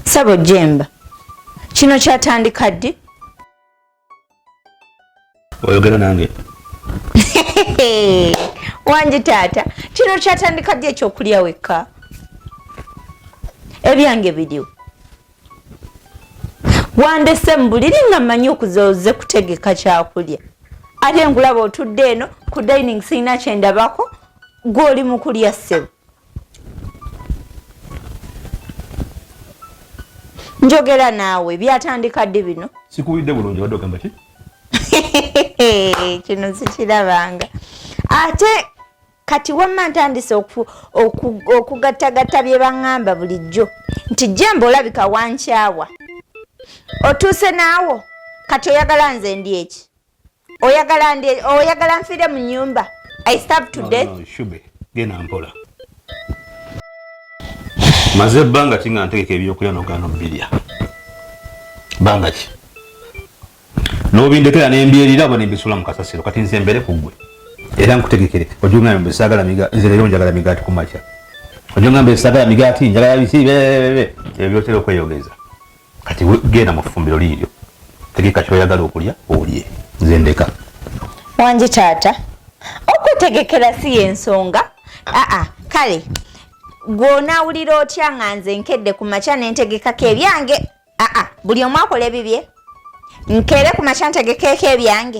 Sabo Jemba, kino kyatandika ddi? Oyogera nange wangi taata, kino kyatandika ddi ekyokulya wekka? Ebyange biriwo wandese mu buliri nga mmanyi okuzoze kutegeka kyakulya ate nkulaba otudde eno ku dining sirina kyendabako gwoli mu kulya ssebo njogera naawe byatandika ddi bino sikuwulidde bulungi wadde ogamba ki kino sikirabanga ate kati wamma ntandise okugattagatta bye baŋŋamba bulijjo nti jemba olabika wankyawa otuuse naawo kati oyagala nze ndi eki oyagala ndi oyagala nfiire mu nyumba i stab to death genda mpola maze ebbanga ki nga ntegeka ebyokulya nogano birya banga ki n'obindekera ne mbyerira oba ne mbisula mu kasasiro kati nze mbere ku ggwe era nkutegekere ojja ogamba mbu saagala migaati nze leero njagala migaati ku makya ojja ogamba saagala migaati njagala biki bebebebe ebyo byotera okweyogeza kati genda mu ffumbiro liiryo tegeka kyoyagala okulya olye nze ndeka wangi taata okutegekera si yensonga aa kale gwonaawulira otya nga nze nkedde ku makya nentegekako ebyange aa buli omu akola ebibye nkere ku makya ntegekeeko ebyange